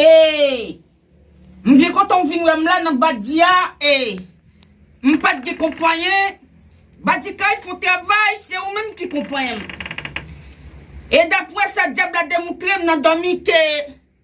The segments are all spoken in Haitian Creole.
Eeyy M byen kontan w vin wè m la nan Badi a Eeyy M pat gen konpayen Badi Kay fon travay Se ou menm ki konpayen m E dapre sa dyab la demoutre m nan dòmi ke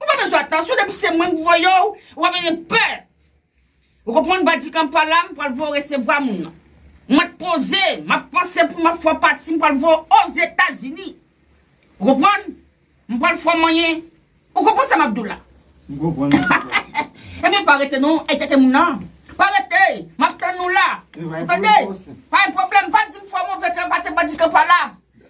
Ou pa bezwen atansyon depi se mwen k voye w wap mete pè ou konprann bandi kanpa la m pral voye w resevwa moun nan mwen t poze map panse pou map fè w pati m pral voye w ozetazini ou konprann m pral fè w manyen ou konprann sa map di w la ebyen pa rete non enkyete moun nan pa rete map tann ou la ou tande pa gen pwoblèm pa di m fè w move travay se bandi kanpa la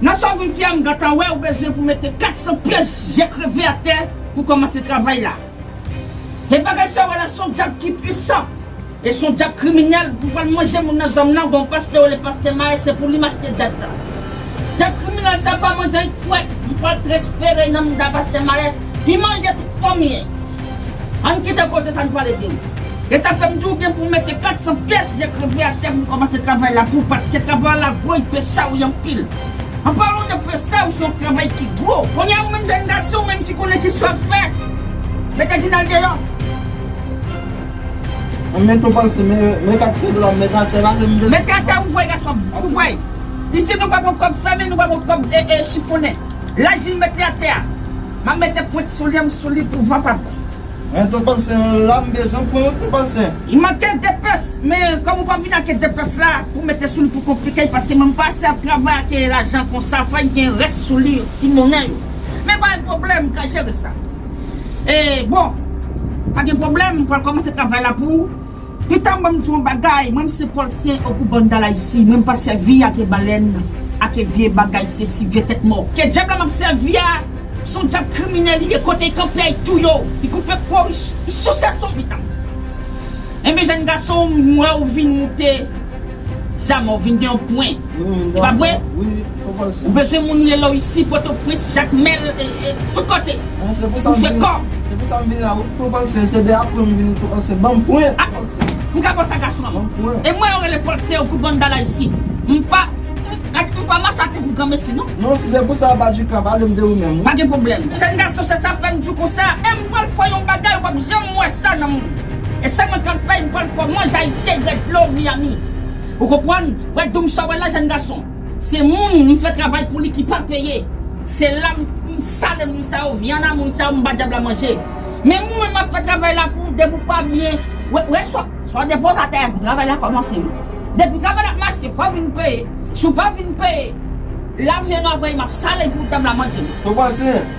Nan sa w vin fè a m gentan wè ou bezwen pou mete 400 pyès je kreve atè pou kòmanse travay la. E bagay sa w wè la s on dyab ki pwisan e s on dyab kriminèl pou pral manje moun nan zòn m nan gen yon pastè yo rele pastè Maes se pou li m achte dyab sa. Dyab kriminèl sa pa manje anyn fwèt m pral transfere nan mouda pastè Maes li manje tout fanmiy. Ann kite koze sa n pale de l. E sa fè m di w gen pou w mete 400 pyès je kreve atè pou w kòmanse travay la pou w paske travay la gwo y pesa w y anpil. An palan de pesa w se yon travay ki gwo. Kounye a ou menm jenn gason ou menm ki konnen ki sa w ap fè, mete Dinal deyò. An mete w pase men men 400 dola m mete atè pase m. Mete atè ou vwe gason m, ou vwe. Isit nou pa pran kòb fèmen nou pa pran kòb chifonnen. Laj li mete atè a. Map mete pwent soulye m sou li pou van pa pran. Mwen tou panse m la m bezwen pran yon ti panse. Li manke de pès men kòm ou pa vin ake de pès la pou mete sou li pou konplike l paske mwen pa ase ap travay ake lajan konsa fòy gen rès sou li ti monnen yo men pa yon pwoblèm m ka jere sa e bon pa gen pwoblèm m pral kòmanse travay la pou ou. Etam banm di w yon bagay mwen m se pòl sen okou bann dalayisi mwen m pa sèvi ake balèn ake vye bagay sesi vye tèt mò ke djab la map sèvi a son djab kriminèl li ye kote kanpe y touye w y koupe kò w y souse sou w etam enben jèn gason m wè w vin moute Zama ou vin gen yon pwen e pa vre? Ou bezwen moun relew isi pòtoprens jakmèl tout kote pou fè kòb. M ka konsa gason m e mwen yo rele pòlse ou kou bann dala isi m pa mache atik ou granmesi non. Pa gen pwoblèm jèn gason se sa fèm diw konsa e m pral fè yon bagay ou pap janm wè sa nan moun. E sa mwen ka fè, m pral fè mwen Ayisyen red dlo Miami. Ou konprann? Wè doum sa w wè la jèn gason, se moun m fè travay pou li ki pa peye. Se la m sale moun sa yo, vyann a moun sa yo m ba dyab la manje. Men mwen menm m ap fè travay la pou depi w pa byen wè sa w depoze atè a pou travay la kòmanse. Depi travay la ap mache fò w vin peye, si w pa vin peye, la vyann ou ap rayi m ap sale pou dyab la manje m. Ou panse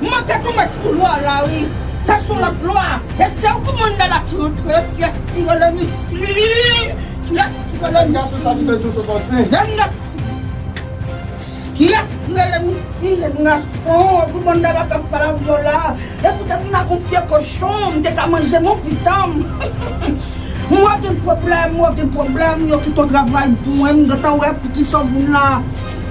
M manke tonbe sou lwa la wi Se sou lòt lwa E se ou ki mande la ti rantre Pyès ki rele Misly Pyès ki rele Misly Jan nèg fou Pyès ki rele Misly Jan gason Ou ki mande la kap pale avè w la E poutèt m ta kon pye kochon M te ka manje moun pitan m Ou wè gen pwoblèm Ou wè gen pwoblèm Yo kite w travay pou mwen M gentan wè poukisa w vin la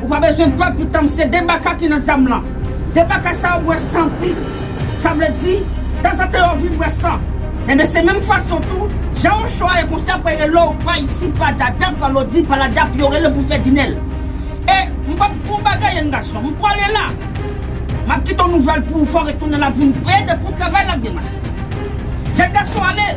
Ou pa bezwen pè pitanm se 2 baka ki nan zam lan. 2 baka sa yo bwè san tou. Sa vle di, tanzantan yo vin bwè san. Enben se menm fason tou, jan yon cho a ye konsa pou rele w pa isi, pa dada, pa lodi, pa lada pou yo rele w pou fè dinèl. E, m pap di w yon bagay yen gason, m pwale la. M ap kite yon nouvèl pou ou fè w retounen la vin pre depi w travay l ap byen mache. Jen gason ale!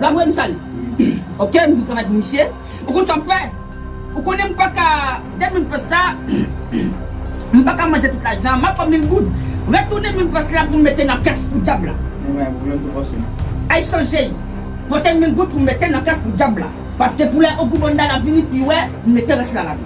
Bravo e m sal ok m bon travay pou misye ou konn sa m fè ou konnen m paka de mil pes sa m paka manje tout lajan map pran mil goud retounen mil pes la pou m mete nan kès pou dyab la ay chanje pote mil goud pou m mete nan kès pou dyab la paske pou lè ogou banda la vini pi wè m mete rès la ladan.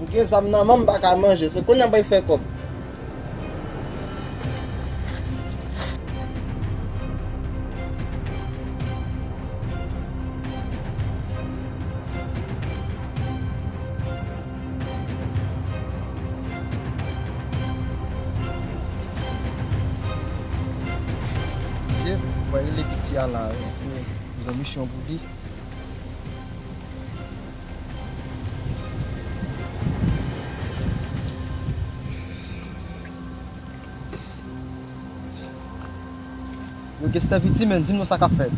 M gen zam nan menm m paka manje se kounya m pral fè kòb. Misye pral rele piti a la misye gen misyon pou li. Yo Kester Viti men, di m non sa k ap fèt?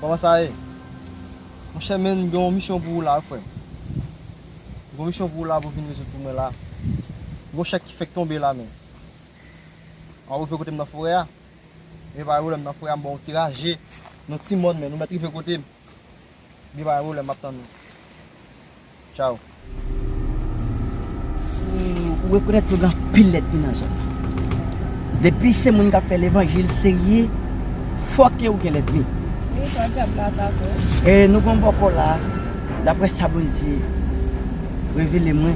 Kòman sa ye? Monchè men m gen yon misyon pou ou la wi frè m. M gen yon misyon pou ou la pou w vin rezoud pou mwen la. M gen yon chèk ki fèk tonbe la men. Ou rive kote m nan forè a? Gen pa gen pwoblèm nan forè a m ba w yon ti raje nan yon ti mòn men nou mèt rive kote m. Bye bye Roland map tann ou Ciao. Ou rekonèt ke gen anpil lèt mi nan zòn nan. Depi se moun kap fè levanjil serye, fòkè ou gen lèt mi. Wi pa dyab la atake w. E nou gen yon bòkò la, daprè sa Bondye revele mwen.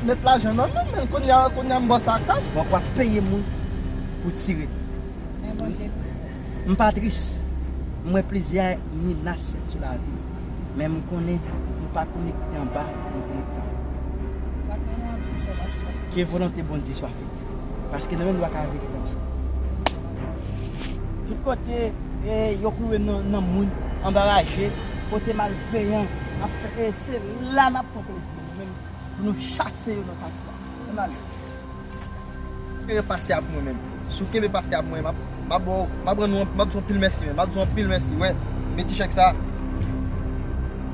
Met lajan nan menm men kounya kounya m bo sa cash. Wap wap peye moun pou tire. Men Bondye pi fò. M pa tris. M wè plizyè menas fèt sou lavi m. Men m konnen nou pa konekte anba yon konektan. Sak gen nan bouch yo pa fèt. Ke volonte Bondye swa fèt. Paske nan menm lwa ka vire nan menm. Tout kote yo koure nan moun anbaraje, kote malveyan ap fè e se la nap fè plezi. Amen pou nou chase yo nan kay sa. Ann ale. Kenbe pastè a pou mwen menm. Si w kenbe pastè a pou mwen map map ba w map rann ou map di w anpil mèsi menm map di w anpil mèsi wè men ti chèk sa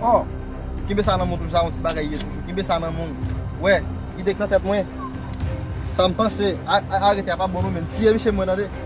ò kenbe sa nan men w toujou sa yon ti bagay ye toujou kenbe sa nan men w wè ide k nan tèt mwen sa m panse arete a pa bon non menm tiye misye pou mwen tande.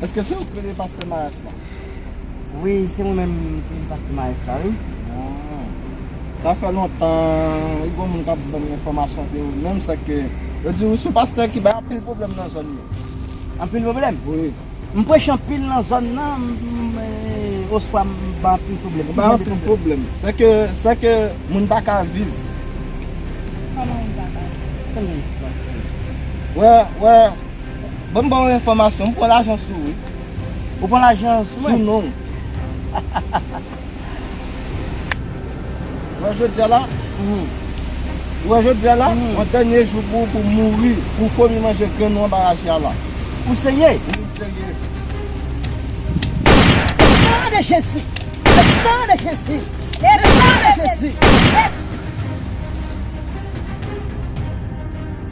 Eske se ou k rele pastè Maes la? Wi se mwen menm ki rele pastè Maes la wi. Ah. Sa fè lontan li gon moun kap banm enfòmasyon de ou menm sa ke yo di ou sou pastè ki bay anpil pwoblèm nan zòn yo. Anpil pwoblèm? Wi. M preche anpil nan zòn nan m oswa m bay anpil pwoblèm? M bay anpil pwoblèm. Sè ke sè ke moun pa ka viv. Kòman moun pa ka viv? Wè wè. Banm baw yon enfòmasyon, m pran lajan sou ou wi. Ou pran lajan sou mwen? Sou non ou. Ou wè jodi a la, ou wè jodi a la, yon dènye jou pou ou pou mouri, pou fomi manje grenn ou anba raje a la. Ou serye? Wi m serye. Le sang de Jésus! Le sang de Jésus! Le sang de Jésus!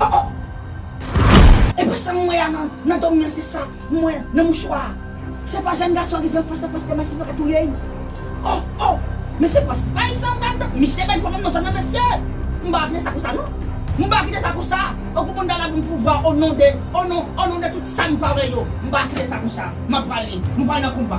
Oh oh! Epa sam wè a nan dòmi an se sa m wè nan mouchwa a. Se pa jèn gason an ki fè fas a pastè Max li paka touye l. Oh oh! Men se pastè Max sa m ta tande. Misye bèl fò menm non tande mesye. M paka kite sa konsa non. M paka kite sa konsa. Tankou moun ta ba m pouvwa o non de, o non, o non de tout sa m pa wè yo. M paka kite sa konsa. M ap pale. M pral nan konba.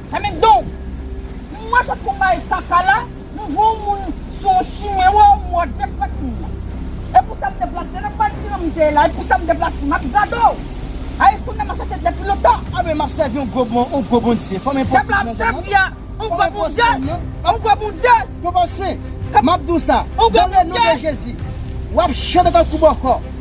Anmèd don! M wè kot konpayi kaka la, m vwe yon moun sou yon chimen wè w m wè w dep pran tmoun nan. E pou sa m deplase nan konpayi kijan m te ye la e pou sa m deplase m ap gade w. A e kounye a m ap chache depi lontan. Anmè m ap sèvi yon gwo bon yon gwo bondye fòm enposib Pèp la ap sèvi a yon gwo bondye yon gwo bondye. Konpansyen! M ap di w sa, dan le non de Jezi, w ap chante tankou bòkò.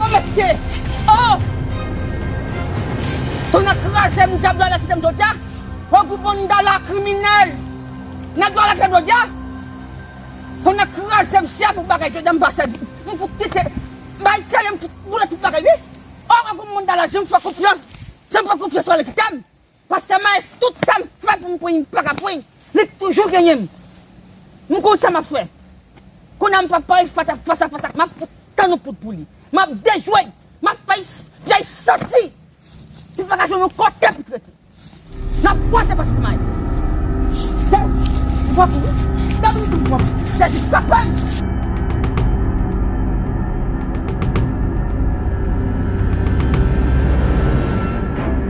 Oh mesye oh Tonnè krazem dyab lwa la kitem jodya oh gou banda la kriminel Nèg lwa la kitem jodya Tonnè krazem si a pou bagay jodya m pa sèvi m fout kite bay sèye m fout boule tout bagay wi oh gou banda la janm fè konfyans janm fè konfyans lwa la kitem. Pastè Maes tout sam fè pou m pranyn m paka pranyn li toujou genyen m m konn sa map fè kounya m pap pale fata fas a fas ak map fout tann yon poud pou li map dejwel map fè fèy santi li paka jwenn yon kote pou trete nap kwaze pastè Maes Bon m pran pou ou sa vle di m pran pou ou Jezi papa m.